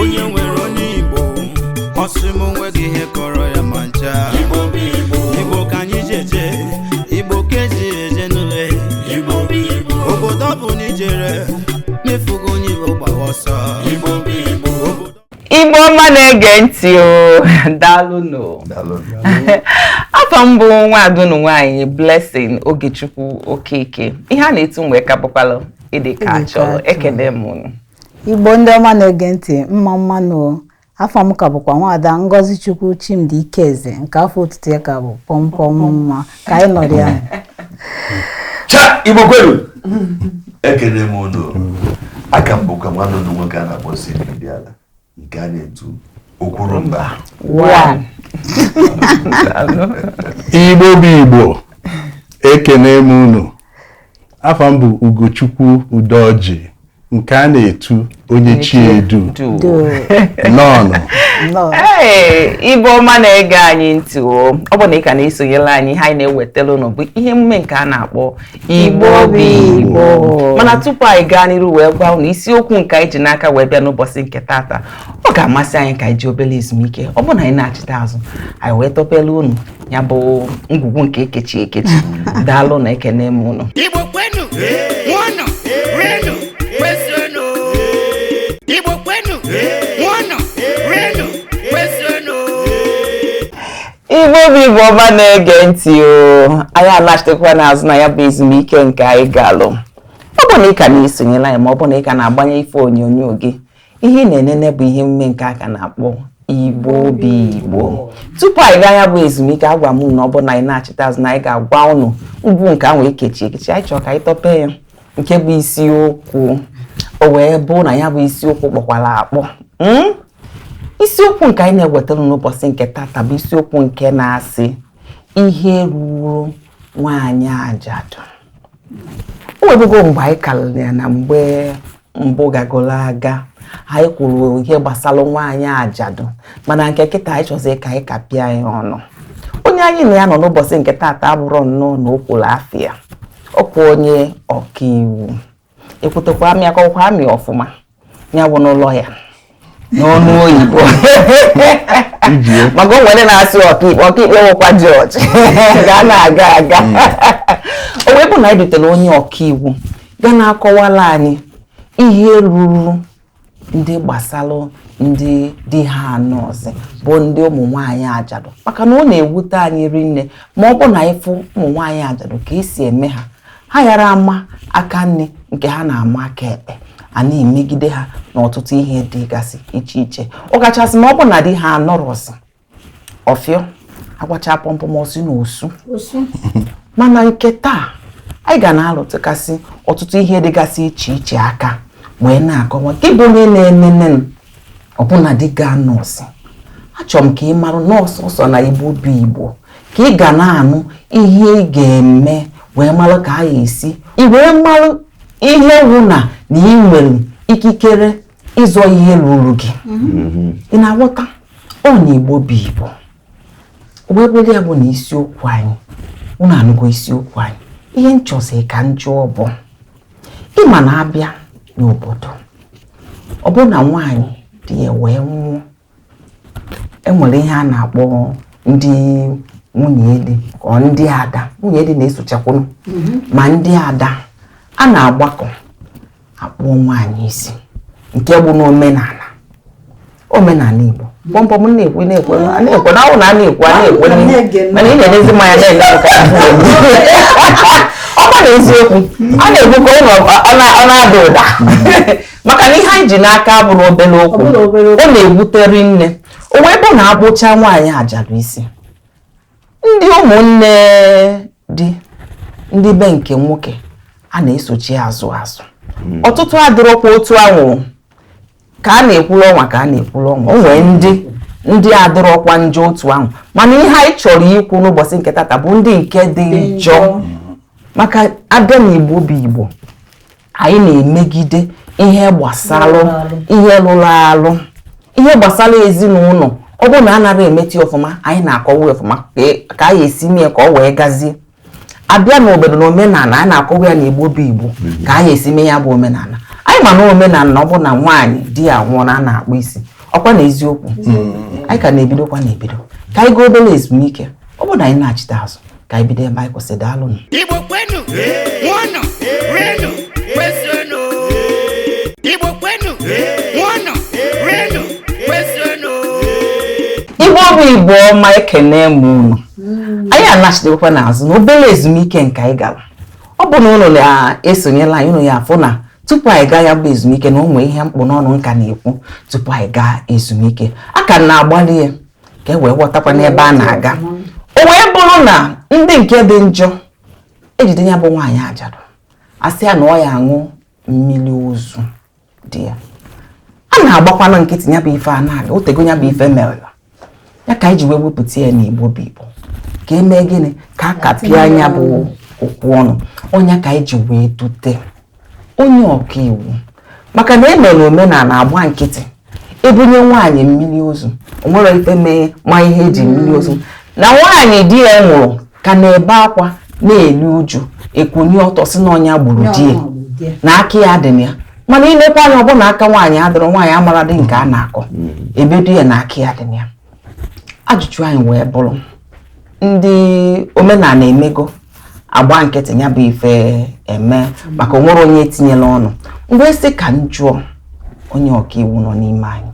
onye nwere onye igbo ọ sị m o nweghị ihe kọrọ ya ma ncha igbo ka anyị ji eje igbo ka e ji eje n'ule obodo ọ bụ na ijere mefugo onye igbo gbawa ọsọ igbo ọma na-ege ntị o daalụnụ afa m bụ nwaada unu nwaanyị blessing ogechukwu okeke ihe a na-etu mụnwa ka bụkwalụ ịdị ka a chọrọ ekene m unu igbo ndị ọma na-ege ntị mma mmanụ o afa m ka bụkwa nwaada ngozichukwu chimdi ikeze nke afa otutu ya ka bụ pọmpọm mma ka anyị nọrọ ya cha igbo kwenu ekene m unu a ka m bụkwa nwanne unu nwoke a na-akpọ si ala nke a na-etu okwurumba igbo bụ igbo ekene m unu afa m bụ ugochukwu udoji nke a na-etu onye chi edu nnọọnụ igbo ọma na-ege anyị ntị o ọ bụ na ị ka na-esonyela anyị ihe anyị na-ewetara ụnụ bụ ihe emume nke a na-akpọ igbo bụ igbo mana tupu anyị gaa n'iru wee gwa ụnụ isiokwu nke anyị ji n'aka wee bịa n'ụbọchị nke tata ọ ga-amasị anyị ka anyị jee obere ezumike ọ bụrụ na anyị nachita azụ anyị wee tọpelu ụnụ ya bụ ngwugwu nke e kechi ekechi daalụnụ ekene m ụnụ igbo kwenu ṅụọnụ rienụ kwezuonụ igbo kwenu ṅụọnụ rienụ kwezuonụ igbo bụ igbo ọma na-ege ntị o anyị anachitekwana azụ na ya bụ ezumike nke anyị galụ ọ bụ na ị ka na-esonyela anyị ma ọ bụ na ị ka na-agbanye ife onyonyo gị ihe ị na-enene bụ ihe emume nke a ka na-akpọ igbo bụ igbo tupu anyị gaa ya bụ ezumike agwa m na ọ bụ na anyị nachita azụ na anyị ga-agwa ụnụ ngwugwu nke ahụ e kechi ekechi anyị chọrọ ka anyị tọpee ya nke bụ isiokwu o wee bụ na ya bụ isiokwu kpọkwara akpọ hmm? isiokwu nke anyị na-ewetara n'ụbọchị nke tata bụ isiokwu nke na-asị ihe ruru nwaanyị ajadu o nwebugo mgbe anyị karịrị ya na mgbe mbụ gagoro aga anyị kwuru ihe gbasara nwaanyị ajadu mana nke kịta anyị chọziri ka anyị kapịa ya ọnụ onye anyị na ya nọ n'ụbọchị nke tata abụrụ nnọọ na o kwuru afịa ọ kwa onye ọkaiwu ekwutekwa m ya akọkwa m ya ọfụma ya bụnụ lawyer n'ọnụ oyibo maka o nwere ndị na-asị ọkaikpe ọkaikpe nwekwa judge ga na-aga aga mm. o wee bụ na anyị dutere onye ọkaiwu ga na-akọwala anyị ihe ruru ndị gbasalụ ndị di ha anọọzị bụ ndị ụmụ nwaanyị ajadu maka na ọ na-ewute anyị rinne ma ọ bụ na ịfụ ụmụ nwaanyị ajadu ka esi eme ha ha yara ama aka nni nke ha na-ama aka ekpe a na-emegide ha n'ọtụtụ ihe dịgasị iche iche ọ kachasị ma ọ bụ na di ha anọrọzị ọfịọ agbacha pọmpụ ma ọsị na osu mana nke taa anyị ga na-alụtụgasị ọtụtụ ihe dịgasị iche iche aka wee na-akọwa gị bụ onye na-enene ọ bụ na di gị anọọzị achọrọ m ka ị mara na ọ sọọsọ na igbo bụ igbo ka ị ga na-anụ ihe ị ga-eme wee mara ka a ga-esi i wee mara ihe wụ na na ị nwere ikikere ịzọ ihe ruru gị mm-hmm. ị na-aghọta ọ na igbo bụ igbo wee bụrụ ya bụ na isiokwu anyị unu anụgo isiokwu anyị ihe nchọzi ka njụ ọ bụ ị ma na a bịa n'obodo ọ bụ na nwaanyị di ya wee nwụọ e nwere ihe a na-akpọ ndị nwunye di ọ ndị ada nwunye di na-esochakwunu mhm. ma ndị ada a na-agbakọ a kpụọ nwaanyị isi nke bụ n'omenala omenala Igbo bọmbọ m na-ekwu na-ekwe na-ekwe na ahụ na a na-ekwu a na-ekwe mana ị na-enezi m anya na-enye m ka ọkwa na eziokwu a na-ekwu ka ụlọ ọ na-ada ụda maka na ihe anyị ji n'aka abụrọ obere okwu ọ na-ewute rinne o wee bụ na a kpụcha nwaanyị ajadu isi ndị ụmụnne di ndị be nke nwoke a na-esochi azụ azụ hmm. ọtụtụ adịrọkwa otu ahụ ka a na-ekwuru ọnwa ka a na-ekwuru ọnwa o nwee ndị ndị adịrọkwa njọ otu ahụ mana ihe anyị chọrọ ikwu n'ụbọchị nke tata bụ ndị nke dị njọ maka a bịa na igbo bụ igbo anyị na-emegide ihe gbasara ihe lụrụ alụ ihe gbasara ezinụlọ ọ bụrụ na anara emeti ọfụma anyị na-akọwa ọfụma ka anyị esi mee ka ọ wee gazie a bịa n'obodo na omenala a na-akọwa ya na igbo bụ igbo ka anyị esi mee ya bụ omenala anyị ma na omenala na ọ bụ na nwaanyị di ya nwụrụ a na-akpụ isi ọkwa na eziokwu mm. anyị ka na-ebidokwa na ebido ka anyị gaa obere ezumike ọ bụ na anyị nachite azụ ka anyị bido ebe anyị kwụsị daalụnụ Igbo kwenu ṅụọnụ rienụ kwezuonụ Igbo kwenu ṅụọnụ rienụ kwezuonụ igbo bụ igbo ọma ekenee m unu anyị anachitekwana azụ na obere ezumike nke anyị gara ọ bụ na unu na-esonyela anyị unu ya afụ na tupu anyị gaa ya bụ ezumike na o nwee ihe m kpụ n'ọnụ m ka na-ekwu tupu anyị gaa ezumike a ka m na-agbalị ya ka e wee ghọtakwa n'ebe a na-aga o wee bụrụ na ndị nke dị njọ ejide ya bụ nwaanyị ajadu asị ya na ọ ya aṅụ mmiri ozu di ya a na-agbakwana nkịtị ya bụ ife a na-aga otego ya bụ ife mere ya ka anyị ji wee wepụta ya n'igbo bụ igbo ka emee gịnị ka a kapịa nya bụ okwu ọnụ ọ nya ka anyị ji wee dute onye ọka iwu maka na e mere omenala agba nkịtị ebunye nwaanyị mmiri ozu o nwerọ ife mee ma ihe eji mmiri ozu na nwaanyị di ya nwụrụ ka na-ebe akwa na-elu uju ekunie ọtọ sị na ọ nya gburu di ya na aka ya dị na ya mana ilekwa anya ọ bụ na aka nwaanyị adịrọ nwaanyị amarọdị nke a na-akọ ebodo ya na aka ya dị na ya ajụjụ anyị wee bụrụ ndị omenala emego agba nkịtị ya bụ ife eme maka onwere onye etinyela ọnụ m wee sị ka m jụọ onye ọkaiwu nọ n'ime anyị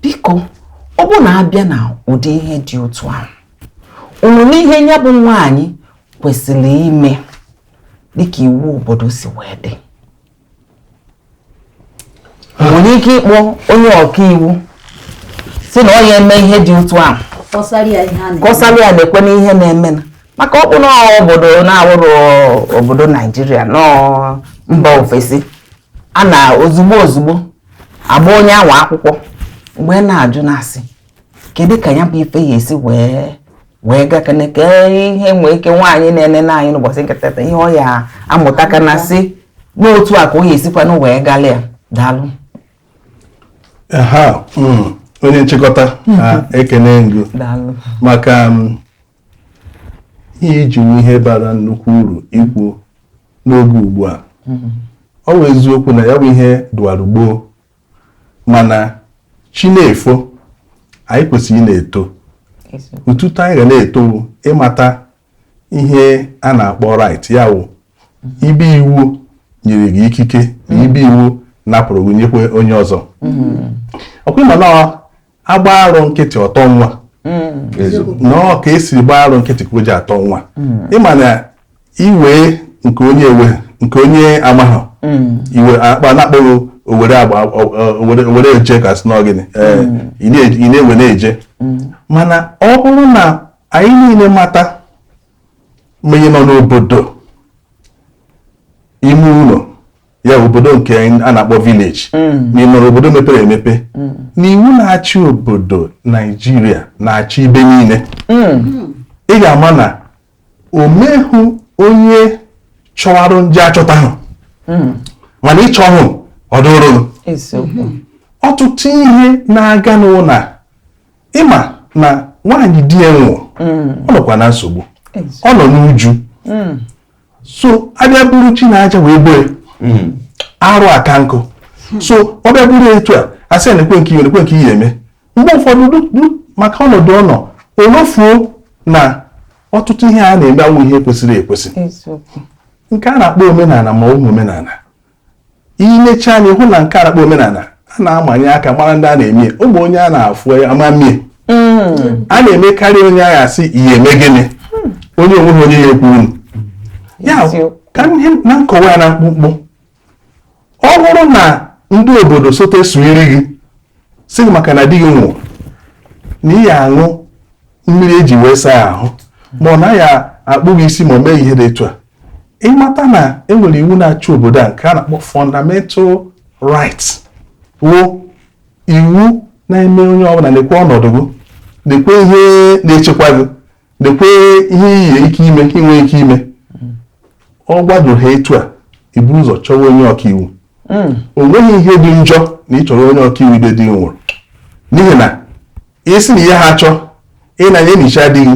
biko ọ bụ na abịa na ụdị ihe dị otu ahụ o nwere ihe ya bụ nwaanyị kwesịrị ime dịka iwu obodo si wee dị nwere ike ịkpọ onye ọkaiwu sị na ọ ya eme ihe dị otu ahụ kọsara ya nekwenụ ihe na-eme maka ọ bụ na obodo na-awụrọ obodo naijiria na mba ofesi a na ozugbo ozugbo agba onye ahụ akwụkwọ m wee na-ajụ na-asị kedu ka ya bụ ife ya esi wee wee gakene ka ihe nwee ike nwaanyị na-enene anyị n'ụbọchị nke tata ihe ọ ya amụta ka na sị na otu a ka o ya esikwanụ wee gala ya daalụ hmm, onye nchịkọta ekene m gị maka hmm, ihe iji ihe bara nnukwu uru ikwu n'oge ugbu a hmm. ọ bụ eziokwu na ya bụ ihe dịwara gboo mana chi na-efo anyị kwesịrị ị na-eto otuto anyị ga na-eto ịmata ihe a na-akpọ right ya wụ ibe iwu nyere gị ikike na ibe iwu napụrụ gị nyekwe onye ọzọ ọ kwa ị ma na agba arụ nkịtị ọtọ nwa nọọ ka esiri gbaa arụ nkịtị ka o ji atọ nwa ịma na iwe nke onye ewe nke onye amaghị iwe akpa na-akpọghị owere agba owere eje ka sị na ọ gịnị ị na-ewe na-eje mana ọ bụrụ na anyị niile mata ma onye nọ n'obodo ime ụlọ ya obodo nke a na-akpọ village mm. ma ị nọrọ obodo mepere emepe mm. na iwu na-achị obodo Naijiria na-achị ibe niile mm. ị ga-ama na o nwehụ onye chọwarụ nje achọta ahụ mana ịchọ hụ ọdụrụ ọtụtụ ihe na-aga n'ụlọ ị ma na nwaanyị di ya nwụọ ọ nọkwa na nsogbu ọ nọ n'uju so a bịa buru ji na aja wee gboo hmm. arụ aka nkụ so ọ bịa bụrụ etu a a sị lekwe nke ị lekwe nke ị ya-eme mgbe ụfọdụ maka ọnọdụ ọ nọ o lofuo na ọtụtụ ihe a na-eme awụ ihe kwesịrị ekwesị nke a na-akpọ omenala ma ọ bụ omenala i lecha anya hụ na nke a na-akpọ omenala a na-amanye aka mara ndị a na-eme ọ bụ onye a na-afụ amamie hmm. a na-emekarị onye a ya-asị ị ya-eme gịnị hmm. onye o nweghị onye ya-ekwuru ya ka ihe na nkọwa ya na mkpụmkpụ ọ bụrụ na ndị obodo sote sụiri gị sị gị maka na di gị nwụrụ na ị ya-aṅụ mmiri e ji wee saa ahụ ma ọ na a ya-akpụ gị isi ma ọ mee ihe dị etu a ị mata na e nwere iwu na-achị obodo a nke a na-akpọ fundamental rights wụ iwu na-eme onye ọbụla lekwe ọnọdụ gị lekwe ihe na-echekwa gị lekwe ihe iyi ike ime ka i nwe ike ime ọ gbado ha etu a i buru ụzọ chọwa onye ọkaiwu hmm. o nweghị ihe dị njọ na ị chọrọ onye ọkaiwu ibe di nwụrụ n'ihi na a sị na ihe ha chọọ ịnanye nichaa di gị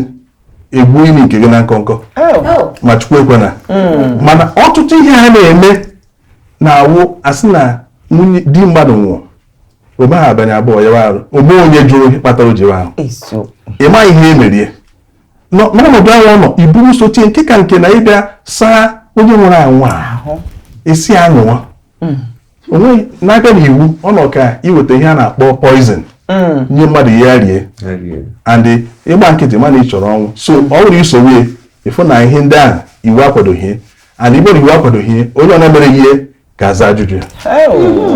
egwu ini nke gị na nkọnkọ oh. ma chukwu ekwena hmm. mana ọtụtụ ihe ha na-eme na-awụ a sị na di mmadụ nwụọ o meghị abalị abụọ ya anwụọ o nwe onye jụrụ ihe kpatara o ji anwụ ị maghị ihe e mere ya n'ọnọdụ ahụ ọ nọ iburu sochi nke ka nke na ị bịa saa onye nwụrụ anwụ ahụ a sị ṅụwa hmm. o nweghị na-abịa n'iwu ọ nọ ka iweta ihe a na-akpọ poison hmm. nye mmadụ sị ya rie and ị gba nkịtị mana ị chọrọ ọnwụ so ọ bụrụ isowe ịfụ na ihe ndị ahụ iwu akwadoghị and igboro iwu akwadoghị onye ọ na-emere ihe ga-aza ajụjụ ya igbo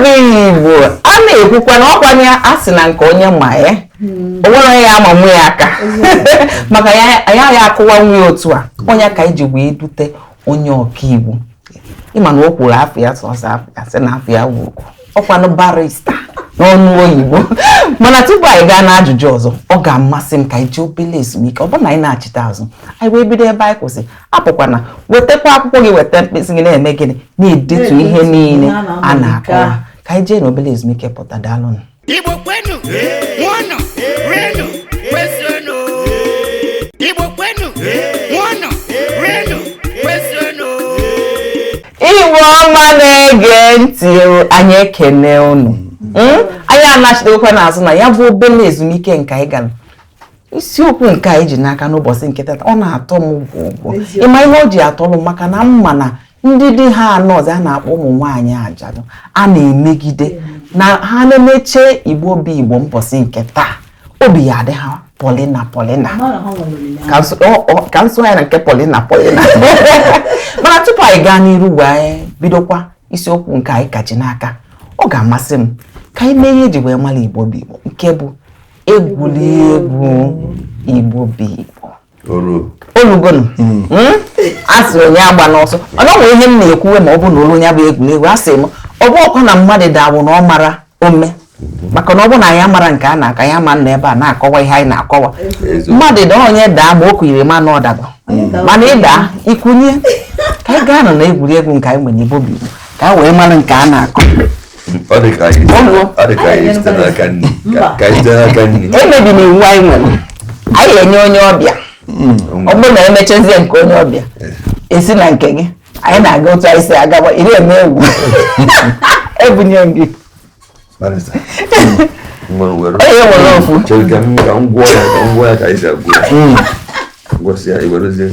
bụ igbo a na-ekwukwa na ọkwanye a sị na nke onye ma ya hmm. o nwere ya ama nwe ya aka maka ya ya ya akụwa nwe otu a onye ka e ji wee dute onye ọkaiwu ị ma na o kwuru afọ ya sọsọ afọ ya sị na afọ ya wuru ọkwanụ barista n'ọnụ oyibo mana tupu anyị gaa n'ajụjụ ọzọ ọ ga-amasị m ka anyị jee obele ezumike ọ bụrụ na anyị nachita azụ anyị wee bido ebe anyị kwụsị apụkwana wetakwa akwụkwọ gị weta mkpịsị gị na-eme gịnị na-edetu ihe niile a na-akọwa ka anyị jee n'obere ezumike pụta daalụnụ Igbo kwenu, ṅụọnụ, rienụ, kwezuonụ. Igbo kwenu, ṅụọnụ, rienụ, kwezuonụ. Igbo ọma na-ege ntị o, anyị ekene unu Mm? anyị anachigokwa n'azụ na ya bụ obere ezumike nke anyị gara isiokwu nke anyị ji n'aka n'ụbọchị nke tata ọ na-atọ m gwụgwụ ị ma ihe o ji atọ m maka na m ma na ndị di ha anọ ọzọ a na-akpọ ụmụ nwaanyị ajadu a na-emegide na ha na-emeche igbo bụ igbo mbọsị nke taa obi ya-adị ha polina polina ka nso ya na nke polina polina mana tupu anyị gaa n'iru wee bidokwa isiokwu nke anyị ka ji n'aka ọ ga-amasị m ka anyị mee ihe e ji wee mara igbo bụ igbo nke bụ egwuri egwu igbo bụ igbo o lugonu hmm. hmm? a sị onye agbana ọsọ o nwe ihe m na-ekwuwe ma ọ bụ na o luo na ya bụ egwuregwu a sị m ọ bụhọkwa na mmadụ daa wụ na ọ mara ome maka na ọ bụrụ na anyị amara nke a na-aka ya ma nọ ebe a na-akọwa ihe anyị na-akọwa mmadụ daa onye daa ma o kunirọ ma na ọ dago mana ị daa i kunie ka anyị gaanụ na egwuregwu nke anyị nwere Igbo bụ Igbo ka anyị wee mara nke a na-akọ ọ dị ka anyị ọ dị ka anyị site n'aka nri ka anyị site n'aka nri emebina iwu anyị nwere anyị enye onye ọbịa ọ bụrụ na e mechazie nke onye ọbịa e si na nke gị anyị na-aga otu anyị si agaba iri eme egwu e bunye gị Barrister. Nwere were. Onye were ofu. Chere ka m ka m gwọọ ya ka m gwọọ ya ka anyị si agwọ ya. Gwọsịa, i werezie.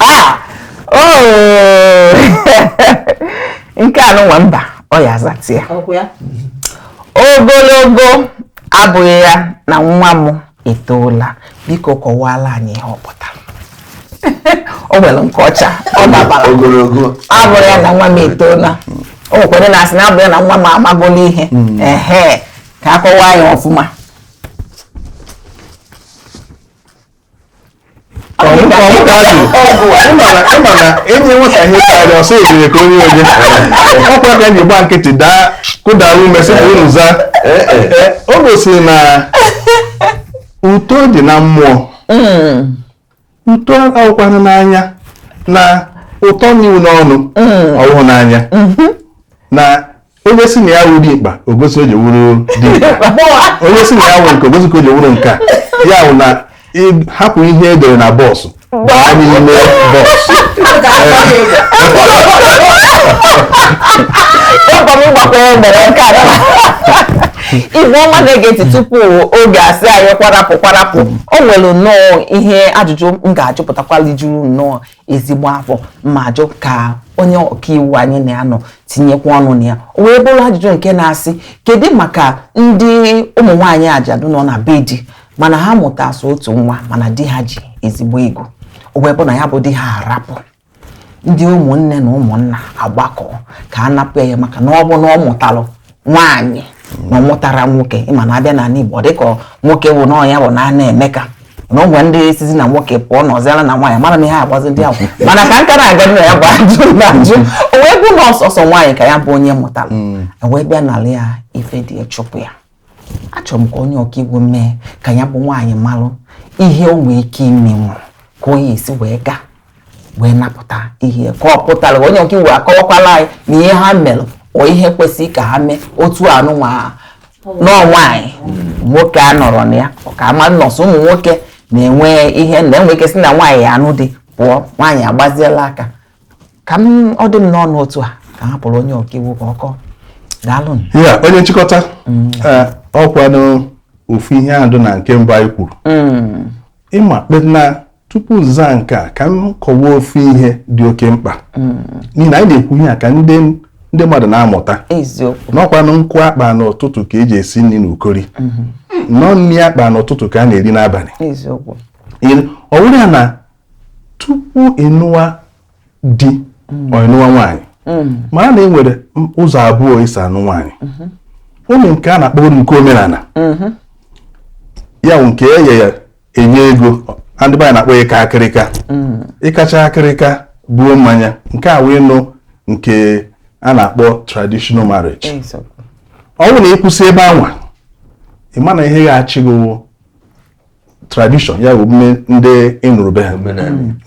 Ah! Oh! nke a nụnwa mba ọ ya-azata ya ogologo abụghị ya na nwa m etoola biko kọwala anyị ihe ọ pụtara o nwere nke ọcha ọ dabara ogologo abụghị ya na nwa m etoola o nwekwara na-asị na abụghị ya na nwa m amagola ihe hmm. ehe ka a kọwaa ya ọfụma e nye nwata ihe karịa ọ sị ejire ka onye onye ọkwa ka ji gba nkịtị daa kudara ume sị ka unu zaa o gosiri na uto dị na mmụọ uto awụkwana n'anya na uto n'iwu n'ọnụ ọ wụhụ n'anya na onye si na ya wuru ikpa o gosi o ji wuru di onye si na ya wuru nke o gosi ka o ji wuru nke ya wụ na hapụ ihe e dere na bọọsụ baa n'ime bọọsụ Igbo ọma na-ege ntị tupu oge asị anyị kwarapụ kwarapụ o nwere nnọọ ihe ajụjụ m ga-ajụpụtakwali juru nnọọ ezigbo afọ ma jụ ka onye ọkaiwu anyị na-anọ tinyekwa ọnụ na ya o wee bụrụ ajụjụ nke na-asị kedu maka ndị ụmụ nwaanyị ajadu nọ na be di mana ha mụta sọ otu nwa mana di ha ji ezigbo ego o wee bụ na ya bụ di ha arapụ ndị ụmụnne na ụmụnna agbakọ ka a napụ ya ihe maka na ọ bụ na ọ mụtalụ nwaanyị na ọ mụtarọ nwoke ị ma na a bịa n'ala Igbo dịka nwoke bụ na ya bụ na a na-eme ka na ụmụ ndị esizi na nwoke pụọ na ọzịara na nwaanyị mara na ihe agbazi ndị ahụ mana ka nka na-aga na ya bụ ajụ na ajụ o wee bụ na ọ sọsọ nwaanyị ka ya bụ onye mụtara hmm. e wee bịa nala ya ife di chụpụ ya achọrọ m ka onye ọka iwu mee ka ya bụ nwaanyị malụ ihe o nwee ike imenwu ka ọ ya-esi wee gaa wee napụta ihe ka ọ pụtara onye ọka iwu akọwakwala anyị na ihe ha mere ọ ihe kwesịrị ka ha mee otu anụnwa na nwaanyị nwoke a nọrọ na ya ka a ma na ọ sọ ụmụ nwoke na-enwe ihe na enwe ike si na nwaanyị ya anụ di pụọ nwaanyị agbaziela aka ka m ọ dị m n'ọnụ otu a ka hapụrụ onye ọka iwu ka ọ kọọ daalụ ya onye nchịkọta mm. eh, ọkwanụ ofu ihe a dụ na nke mbụ anyị kwuru mm. ị ma kpena tupu m zaa nke a ka m kọwaa ofu ihe dị oke mkpa mm. n'ihi na anyị na-ekwu ihe a ka ndị ndị mmadụ na-amụta na ọ kwanụ nkụ a kpa n'ụtụtụ ka e ji esi nri n'ukori mm-hmm. na ọ nri a kpa n'ụtụtụ ka a na-eri n'abalị ọ wụrụ ya na tupu ị nụwa di mm. ị nụwa nwaanyị mm. mara na e nwere ụzọ abụọ e si anụ nwaanyị mm-hmm. o nwee nke a na-akpọ nke omenala mm-hmm. ya wụ nke eye ya enye ego na ndị be anyị na-akpọ ya ịka akịrịka ịkacha akịrịka buo mmanya nke a wụnụ nke a na-akpọ traditional marriage eziokwu ọ bụrụ na ị kwụsị ebe anwa ị ma na ihe ga-achị gị wụ tradition ya bụ omume ndị ị nụrụ be ha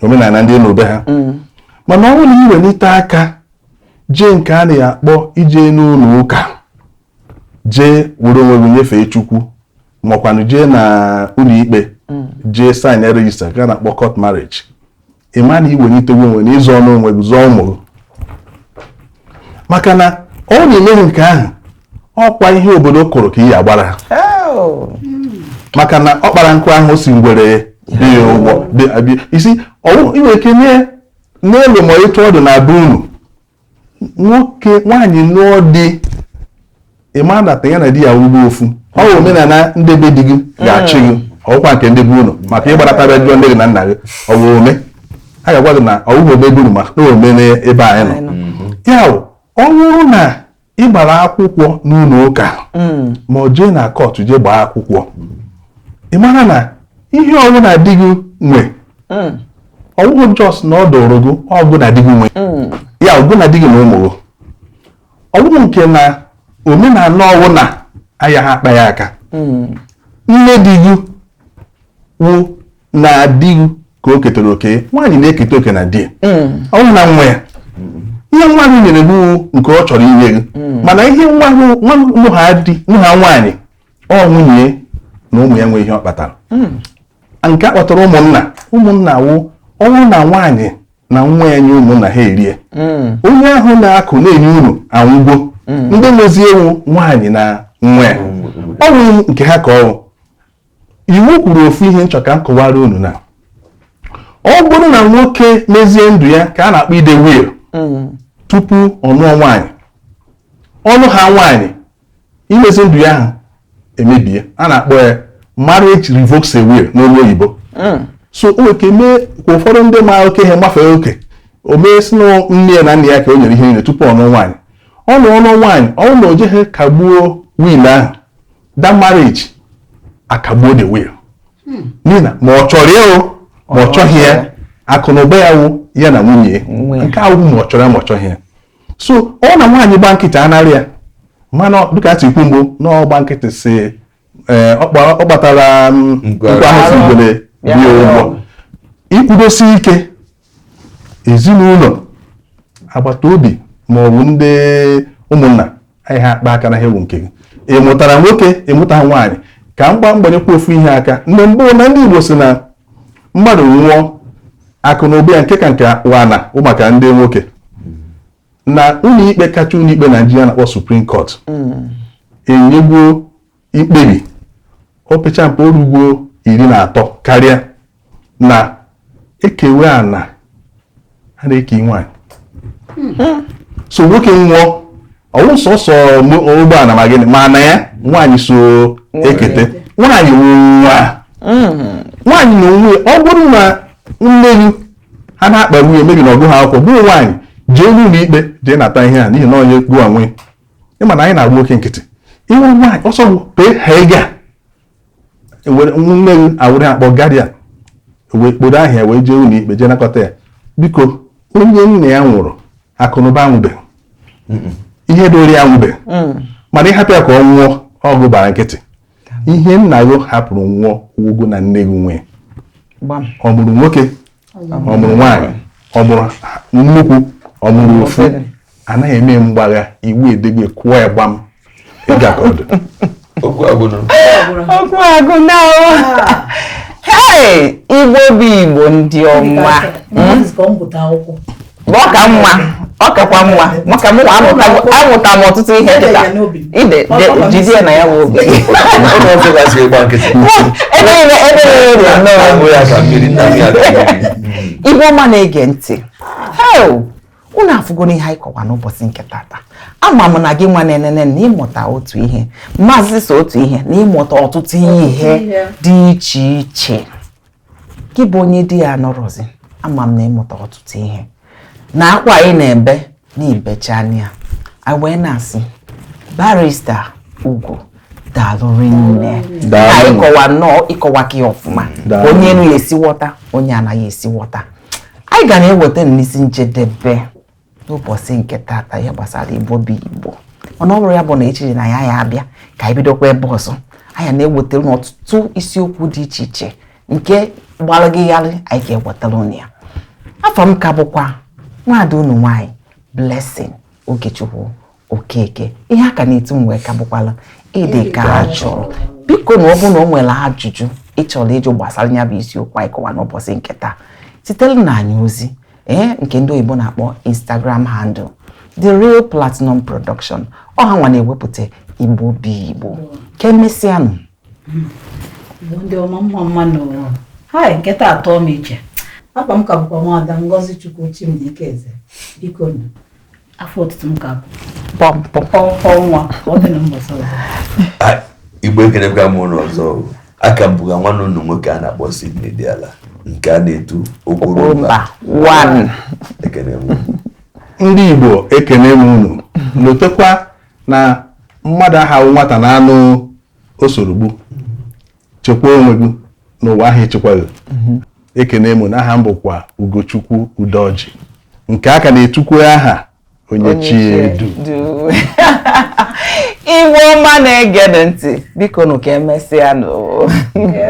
omenala ndị ị nụrụ be ha mana ọ bụrụ na ị welite aka jee nke a na-akpọ ije n'ụlọ ụka jee were onwe gị nyefee chukwu makwanụ jee na ụlọ ikpe mm. jee sign register ka a na-akpọ court marriage ị ma na i welitego onwe na ị zọọnụ onwe gị zọọ ụmụ gị maka na ọ wụ na i meghị nke ahụ ọkwa ihe obodo kụrụ ka ị ya-agbara oh. maka na ọ kpara nkụ ahụhụ si ngwere bịa ya ụgwọ isi ị nwere ike nye n'elu ma etu ọ dụ na be unu nwoke nwaanyị nụọ di ị mara na ya na di ya wụgo ofu ọ bụ omenala ndị be di gị ga-achị gị ọ wụkwa nke ndị be unu maka ị gbarata bịa jụọ nne gị na nna gị ọ bụ ome a ga-agwa gị na ọ bụghị ome be unu mana ọ wụ ome n'ebe anyị nọ ya ọ bụrụ na ị gbara akwụkwọ n'ụlọ ụka mm. ma ọ jee na kọtụ jee gbaa akwụkwọ ị mara na ihe ọwụna di gị nwe mm. ọ wụghị just na ọ dịrị gị ọ gị na di gị nwe mm. ya ọ gị na di gị na ụmụ gị ọ wụghị nke na omenala ọwụna ayaha akpa ya aka nne di gị wụ na di gị ka o ketara oke ya nwaanyị na-eketa oke na di ya ọ bụghị na nwa ya ihe nwa gị nyere gị nke ọ chọrọ inye gị mana ihe nwa gị- nwa gị- nwa ha di nwa ha nwaanyị ọ nwunye ya na ụmụ ya nwe ihe ọ kpatara nke a kpọtara ụmụnna ụmụnna wụ ọ wụ na nwaanyị na nwa ya nye ụmụnna ha erie onye ahụ na-akụ na-enye unu anwụgo ndị nwezi ya wụ nwaanyị na nwa ya ọ bụ nke ha ka ọ bụ iwu kwuru ofu ihe m chọ ka m kọwara unu na ọ bụrụ na nwoke mezie ndụ ya ka a na-akpọ ide will tupu ọ nụọ nwaanyị ọ nụha nwaanyị imezi ndụ ya ahụ emebie a na-akpọ ya marriage revokes a will n'olu oyibo so o nwere ike mee ka ụfọdụ ndị ma oke ihe gbafee oke o mee si na nne ya na nna ya ka o nyere ihe niile tupu ọ nụọ nwaanyị ọ nụọ ọ nụọ nwaanyị ọ bụrụ na o jeghị kagbuo will ahụ that marriage akagbuo the will hmm. n'ihi na ma ọ chọrọ ya ma ọ chọghị ya akụ na ụba ya wụ ya na nwunye nke ahụ ma ọ chọrọ ya ma ọ chọghị ya so ọ na nwaanyị gba nkịtị a narị ya mana dịka atụ ikwu mbụ na ọgba nkịtị si eh, ọ kpatara mm, nkụ ahụhụ sị ngwere bịa ụgwọ ikwudosi ike ezinụlọ agbata obi ma ọ bụ ndị ụmụnna ayaha akpa aka n'ihe wụ nke gị ị mụtara nwoke ị mụta nwaanyị ka m gbaa m gbanyekwa ofu ihe aka mgbe mbụ na ndị Igbo si na mmadụ nwụọ akụ na ụba ya nke ka nke wụ ana wụ maka ndị nwoke na ụlọikpe kacha ụlọikpe Naijiria a na-akpọ Supreme Court mm. enyego ikpebi opecha mpe o rugo iri na atọ karịa na e kewe ana a na-eke nwaanyị so nwoke nwụọ ọ wụ sọsọ ụgbọala ma gịnị ma ana ya nwaanyị so eketa nwaanyị wụ nwa nwaanyị na nwunye ya ọ bụrụ na nne gị ha na-akpa nwunye maybe na ọ gụha akwụkwọ bụ nwaanyị jee n'ụlọ ikpe jee nata ihe a n'ihi na onye gụọ nwe ịma na anyị na-agba oke nkịtị ihe ọma anyị ọsọ bụ pee ha ego a ewere nne gị awụrụ ya kpọ guardian wee kporo ahịa wee jee ụlọ ikpe jee nakọta ya biko onye nna ya nwụrụ akụnụba anwụbeghị ihe dịrị ya anwụbeghị mana ịhapụ ya ka ọ nwụọ ọ gị gbara nkịtị ihe nna gị hapụrụ nwụọ ụgwọ na nne gị nwee ọ mụrụ nwoke ọ mụrụ nwaanyị ọ mụrụ nnukwu ọ mụrụ ofu anaghị eme mgbagha iwu edego kụọ ya gbam ịga ka ọdụ okwu agụ na igbo bụ igbo ndị ọma ọ ka mma ọ kakwa mma maka mụ amụta m ọtụtụ ihe kịta ide jidie na ya bụ obi igbo ọma na-ege ntị unu afụgo n'ihe anyị kọwa n'ụbọsị nke tata ama m na gị nwa na-enene na ịmụta otu ihe maazị sọ otu ihe na ịmụta ọtụtụ ihe dị iche iche gị bụ onye di ya anọrọzi ama m na ịmụta ọtụtụ ihe na akwa anyị na-ebe n'ibecha anya a wee na-asị barrister Ugo daalụ rinne anyị kọwa nnọọ ị kọwaka ya ọfụma onye enu ya esi ghọta onye anaghị esi ghọta anyị ga na-eweta n'isi njedebe n'ụbọsị nke tata ihe gbasara igbo bụ igbo mana ọ bụrụ ya bụ na echiche na ya ya abịa ka anyị bidokwa ebe ọzọ anyị na-ewetara unu ọtụtụ isiokwu dị iche iche nke gbara gị gharịị anyị ga-ewetara unu ya afa m ka bụkwa nwaada unu nwaanyị Blessing Ogechukwu Okeke ihe a ka na-etu m wee ka bụkwala ịdị ka a chọrọ biko na ọ bụrụ na o nwere ajụjụ ị chọrọ ịjụ gbasara ya bụ isiokwu anyị kọwa n'ụbọsị nke taa zitere nụ anyị ozi ee nke ndị oyibo na-akpọ instagram handle the real platinum production ọ ha nwa na-ewepụta igbo bụ igbo ka emesịanụ ndị ọma mma mma nụ o hai nke taa atọ m iche afa m ka bụkwa nwada Ngozichukwu Chimdike Eze biko afa otutu m ka bụ pọmpọmpọ nwa ọ dị na mbọsọ igbo ekenekwa m unu ọzọ aka m bụga nwanne unu nwoke a na-akpọ Sydney Diala nke a na-etu okporo mba ekene m ndị igbo ekene m unu lotekwa na mmadụ aha awụ nwata n'anụ o soro gbuo chekwaa onwe gị na ụwa aha echekwa gị mhm. ekene m unu aha m bụkwa Ugochukwu Udoji nke a ka na-etukwu aha onye chi edu igbo ọma na-ege ntị biko nụ ka emesịa nụ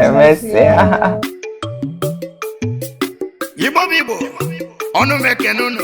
emesịa igbo bụ igbo ọnụ m ekene unu